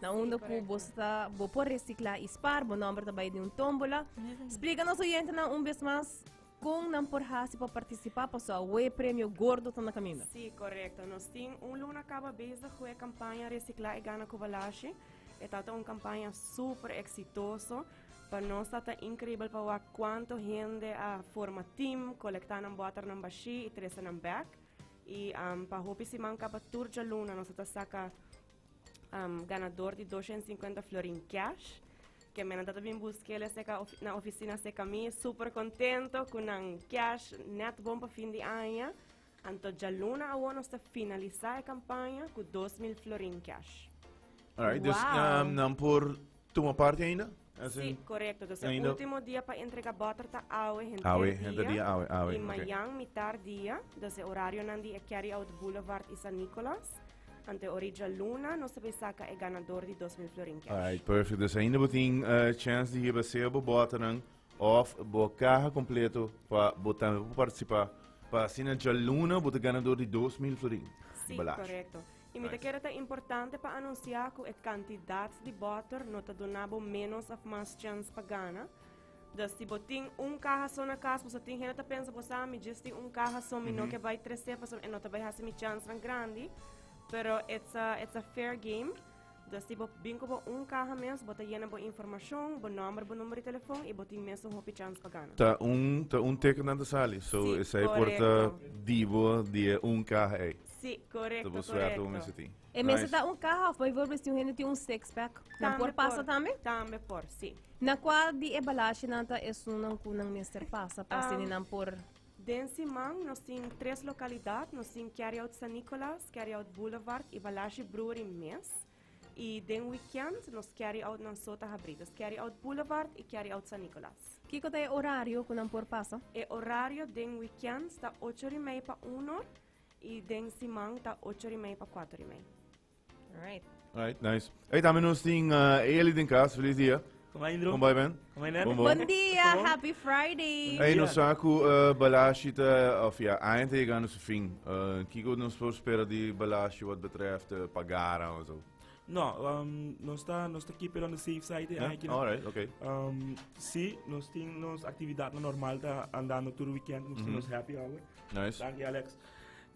Na unda ku bo sta, bo por resiklá i spaar. Bo nòmber ta bai den un tómbola. Splika nos oyentenan un bes mas kon nan por hasi pa partisipá, paso awe premio gordo ta na kaminda. Sí, korekto. Nos tin un luna kaba bes di hue kampaña Resiklá i Gana ku Balashi. E tata un kampaña súper eksitoso. Pa nos tata inkribel pa wak kuantu hende a forma tim, kolektá nan bòternan bashí i trese nan bèk. I pa hopi siman kaba tur djaluna nos a ta saka um ganador di dosha en sinkuenta florin cash, ke men a tabata bin busk'el esei ka ofi na ofisina sei ka mi, super kontento ku nan cash nèt bon pa fin di aña. Anto djaluna awor nos ta finalisá e kampaña ku dos mil florin cash. Alright, dus Wow. um, nan por Tuma parti ainda? Así. Sí, correcto. Entonces, ainda... último día para entregar botter ta awe, henter awe, día. Henter día, awe, awe. Y okay. mañana, mitar día, entonces horario nan di Carry Out Boulevard y San Nicolas. Ante Orija Luna, no se vai saca e ganador di 2000 florin cash. Alright, perfect. Dus ainda botin uh, chance di hiba seo bo botter nan of bo caja completo para botar para participar. Para así na Jaluna, botar ganador di 2000 florin. Sí, correcto. I mi ta kere ta importante pa anunsiá ku e kantidat di bòter no ta duna bo ménos òf mas chèns pa gana. Dus si bo tin un kaha so na kas, pasobra tin hende ta pensa bo sa mi djis tin un kaha so, mi no ke bai tresé pasobra e no ta bai hasi mi chènsnan grandi. Pero it's a it's a fair game. Dja si bo bin ku bo un kaha mes, bo ta yena bo informashon, bo nòmber, bo number di telefon i bo tin mes un hopi chans pa gana. Ta un ta un teken nan ta sali, so Sí, esei por ta korekto. di bo di e un kaha ei. Sí, Ta korekto, bo suerte bo korekto. mester tin. E mester Nice. ta un kaha of bijvoorbeeld si un hende tin un six pack, nan Tambe por pasa tambe? Tambe por, sí. Na kua di e balashnan ta esunnan ku nan mester pasa pa asini nan por Den siman nos tin tres lokalidat, nos tin Carry Out San Nicolas, Carry Out Boulevard i Balashi Brewery mes. I den wikènt nos Carry Out nan so ta habrí. Dus Carry Out Boulevard i Carry Out San Nicolas. Kiko ta e orario ku nan por pasa? E orario den wikènt ta ocho rimei pa uno i den siman ta ocho rimei pa kuater rimei. Right. Right, nice. Hey, también nos tin uh, eh, Eli den kas, feliz dia. Kom ay, Indro. Kom bij ben. Kom ay, Kom Bon dia, happy Friday. Hey, nos saku uh, balashi ta, of ja, eind tegen ons fin. Uh, Kiko nos voor spera di balashi wat betreft uh, pagara en zo. No, um, no está, no está keep it on the safe side. Yeah? Aquí, All right, okay. Um, sí, nos tin nos actividad no normal ta andando todo weekend, nos mm -hmm. nos happy hour. Nice. Dank je Alex.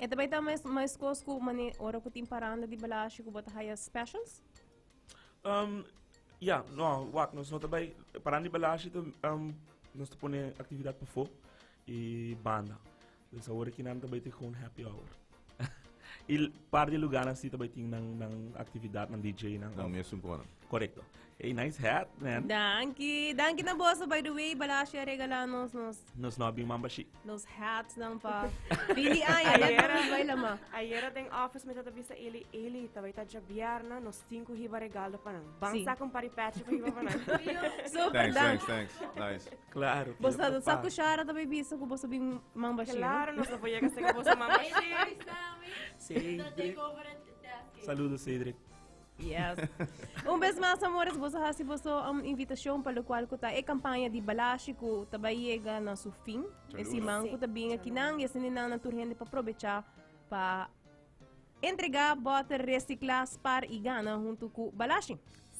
E ta bai ta mes meskos ku mane ora ku tin paranda di Balashi ku bo ta haya specials? Um, ya, no, wak, nos no ta bai, paranda di Balashi ta, um, nos ta pone aktividat pafó i banda. Dus awor aki nan ta bai ta gewoon happy hour. I par di luganan si ta bai tin nan, nan aktividat, nan DJ nan. Nan mes un kona. Korekto. Hey, nice hat, man. Danki. Danki na boso, by the way. Balashi a regala nos, nos... Nos no abin mambashi. Nos hats dan pa... Bili aña, net pa nos baila ma. Ayera den office me tata bisa Eli, Eli, tabay ta jabiarna, nos tinku hiba regaldo pa nan. Ban sí. saku un pari pechi pa hiba pa nan. Super, thanks, dank. Thanks, thanks, nice. Claro. Bos ta saku shara tabay bisa ku bos abin mambashi. Claro, nos apoya ka seka boso mambashi. Cedric. Saludos, Cedric. Yes. Un bes mas amores, boso hasi boso um invitacion pa locual cu ta e campaña di balashi cu ta bay yega na su fin. E siman cu ta bin akinan y asininan nan tur hende pa probecha pa entrega boter recicla, spar y gana hunto cu balashi.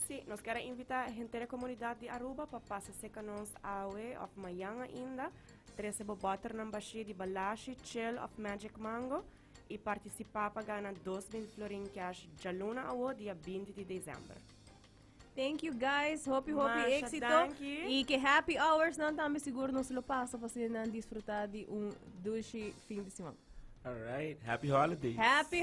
Sí, nos quiere invita e henter e comunidad di Aruba pa pasa seca nos awe of mayan ainda. Trece bo boternan bashi di balashi, chel of magic mango. i partisipa pa gana dos mil florin cash djaluna awo dia binti di desember. Thank you guys, hopi hopi Masha, éxito. dankie. Y que happy hours nan también seguro nos lo pasa para así nan disfrutar de un dulce fin de semana. All right. Happy holidays. Happy